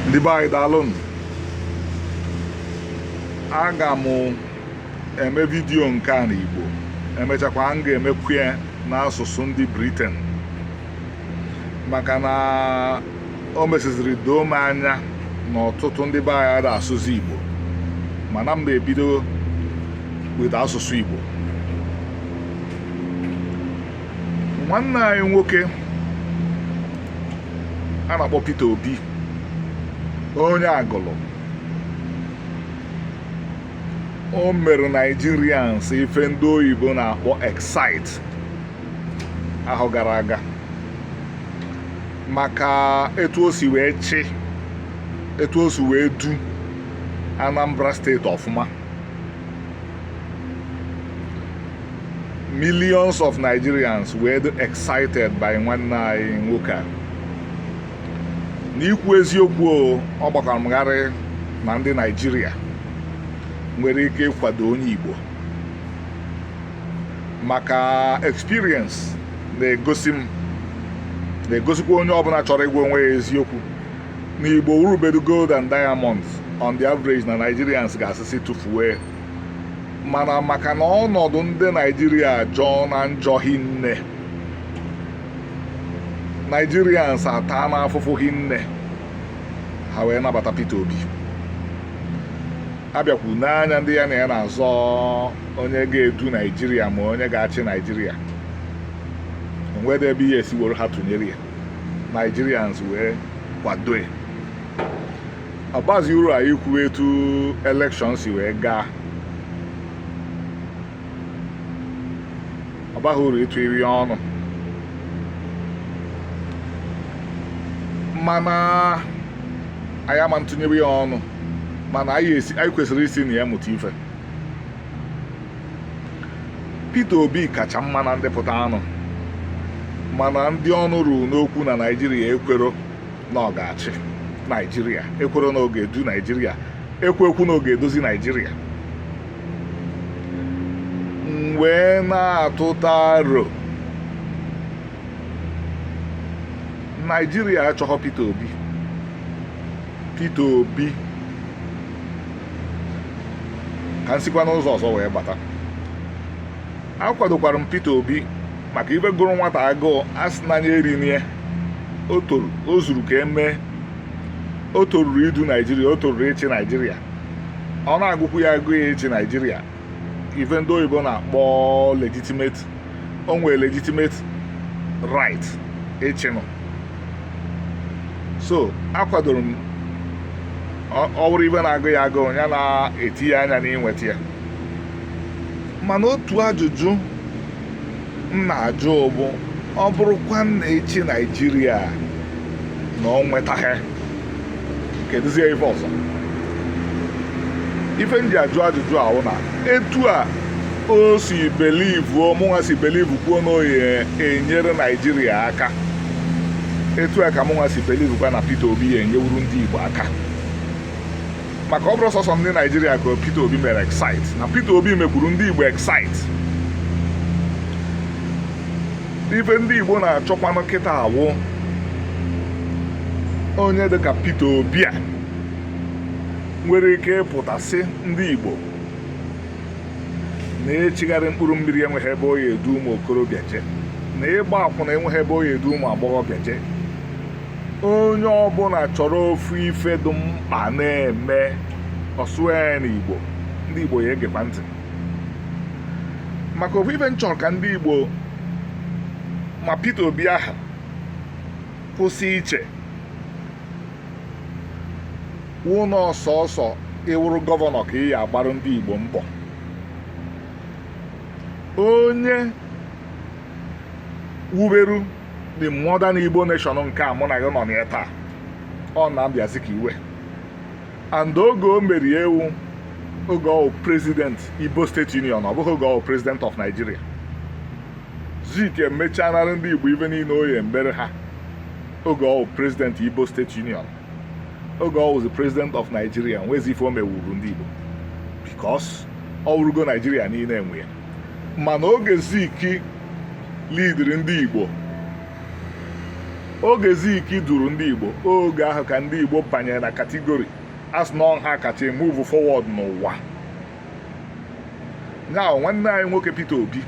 ndị be anyị daalụnụ aga m eme vidiyo nke a n'Igbo emechakwa m ga-emekwu ya n'asụsụ ndị Briten maka na o mesịziri doo m anya na ọtụtụ ndị be anyị ada asụzi Igbo mana m ebido with asụsụ Igbo nwanne anyị nwoke a na-akpọ Peter Obi onye Agụlụ o mere Nigerians ife ndị oyibo na-akpọ excite ahọ gara aga maka etu o si wee chị etu o si wee du Anambra steeti ọfụma millions of Nigerians were excited by nwanne anyị nwoke a n'ikwu eziokwu ọ gbakwara m gharịị na ndị Naijiria nwere ike ịkwado onye Igbo maka experience na-egosi m na-egosikwa onye ọbụla chọrọ ịgwa onwe ya eziokwu na igbo wụrụbedu gold and diamonds on the average na nigerians ga-asịsị tụfue mana maka na ọnọdụ ndị naijiria jọọna njọ hinne nigerians ataana afụfụ hinne ha wee nabata peter obi a bịakwu n'anya ndị ya na ya na-azọ onye ga-edu naijiria ma onye ga-achị naijiria o nwede ebe ihe e si woro ha tụnyere ya Nigerians wee kwadoe ọ bazi uru anyị kwuo etu elekshọn si wee gaa ọ baghị uru ịtụ iri ọnụ mana anyị ama ntụnyere ya ọnụ mana anyị kwesịrị isi na ya mụta ife Peter Obi kacha mma na ndị pụtaanụ mana ndị ọnụ ruru n'okwu na Naịjirịa ekwero na ọ ga-achị Naịjirịa ekwero na ọ ga-edu Naịjirịa ekwekwu na ọ ga-edozi Naịjirịa m wee na-atụta aro Naịjirịa achọghọ Peter Obi Peter Obi ka m sikwa n'ụzọ ọzọ wee bata akwadokwara m Peter Obi maka ife gụrụ nwata agụụ a sị n'anya erinie o toru o zuru ka e mee o toruru idu naijiria o toruru ịchị naijiria ọ na-agụkwu ya agụụ ịchị naijiria ife ndị oyibo na-akpọ legitimate o nwere legitimate right ịchịnụ so akwadoro m ọ bụrụ ife na-agụ ya agụụ ya na-etinye anya n'inweta ya mana otu ajụjụ m na-ajụ bụ ọ bụrụkwa na ịchị naijiria na o nwetaghị kedụzie ife ọzọ ife m ji ajụ ajụjụ a wụ na etu a o si belivu mụnwa si belivu kwuo na ọ ya enyere naijiria aka etu a ka mụnwa si belivu kwa na Peter Obi ya enyewuru ndị Igbo aka maka ọ bụrọ sọsọ ndị naijiria ka Peter Obi mere excite na Peter Obi mekwuru ndị Igbo excite ife ndị Igbo na-achọkwanụ kịta awụ onye dịka Peter Obi a nwere ike ịpụta sị ndị Igbo na-echigharị mkpụrụ mmiri enweghị ebe ọ ya edu ụmụ okorobịa je na ịgba akwụna enweghị ebe ọ ya edu ụmụ agbọghọbịa je onye ọbụla chọrọ ofu ife dị mkpa na-eme ọ sụọ ya n'igbo ndị igbo ya egekwa ntị maka ofu ife m chọrọ ka ndị igbo ma Peter Obi a ha kwụsị iche wụ na ọ sọsọ ị wụrụ gọvanọ ka ị ya agbarụ ndị igbo mbọ onye wuberu the modern Igbo nation nke a mụ na gị nọ na ya taa ọ Nnamdi Azikiwe and oge o mere ya wụ oge ọ wụ president Igbo State Union ọ bụghị oge ọ wụ president of Nigeria Zik emechanara ndị Igbo ife niile ọ ya emere ha oge ọ wụ president Igbo State Union oge ọ wụzi president of Nigeria nwezi ife o mewuru ndị Igbo because ọ wụrụgo Nigeria niile nwe ya mana oge Zik lidiri ndị Igbo oge Zik duru ndị Igbo oge ahụ ka ndị Igbo banyere na katigori a sị na ọ ha kacha emuvu forward n'ụwa ya wụ nwanne anyị nwoke Peter Obi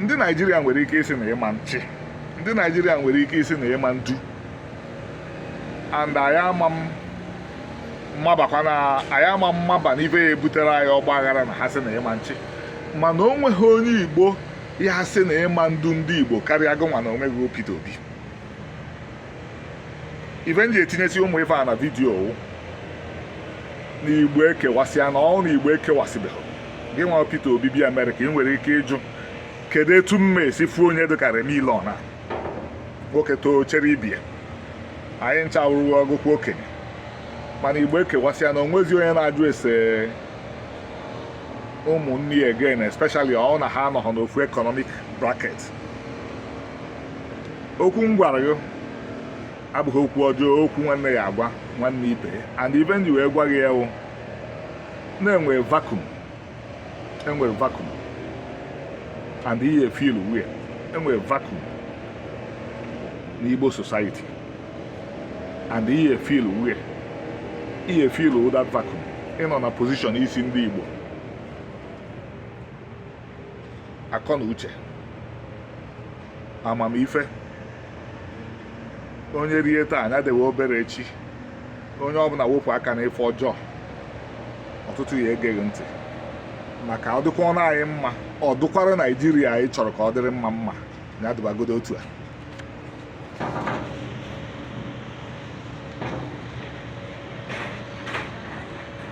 ndị Naijiria nwere ike ịsị na ị ma nchị ndị Naijiria nwere ike ịsị na ị ma ndu and anyị ama m mmabakwa na anyị ama mmaba n'ife ya ebutere anyị ọgba aghara na ha sị na ị ma nchị mana o nweghị onye igbo ya asị na ị ma ndu ndị igbo karịa gịnwa na onwe gị o Peter Obi ife m ji etinyesi ụmụ ife a na vidiyo wụ na igbo ekewasịana ọ wụ na igbo ekewasịbeghị gị nwa Peter Obi bịa Amerịka ị nwere ike ịjụ kedu etu m ya esi fụ onye dịka Remy Ilona nwoke too chere ibie anyị ncha wụrụwa ọgụkwa okenye mana igbo ekewasịa na o nwezi onye na-ajụ ese ụmụnne ya again especially ọ na ha anọghọ n'ofu economic bracket okwu m gwara gị abụghị okwu ọjọọ okwu nwanne ya-agwa nwanne ibe and ife m ji wee gwa gị ya wụ na enwe vacuum enwere vacuum and ị ya-efill ya enwere vacuum n'Igbo society and ị ya-efill ya ị ya-efill that vacuum ị nọ na position izi ndị Igbo akọ na uche amamife onye rie taa nya dewe obere echi onye ọbụla wepụ aka na ife ọjọọ ọtụtụ ya-ege gị ntị maka ọ dịkwanụ anyị mma ọ dụkwara naijiria anyị chọrọ ka ọ dịrị mma mma ya dịbagodo otu a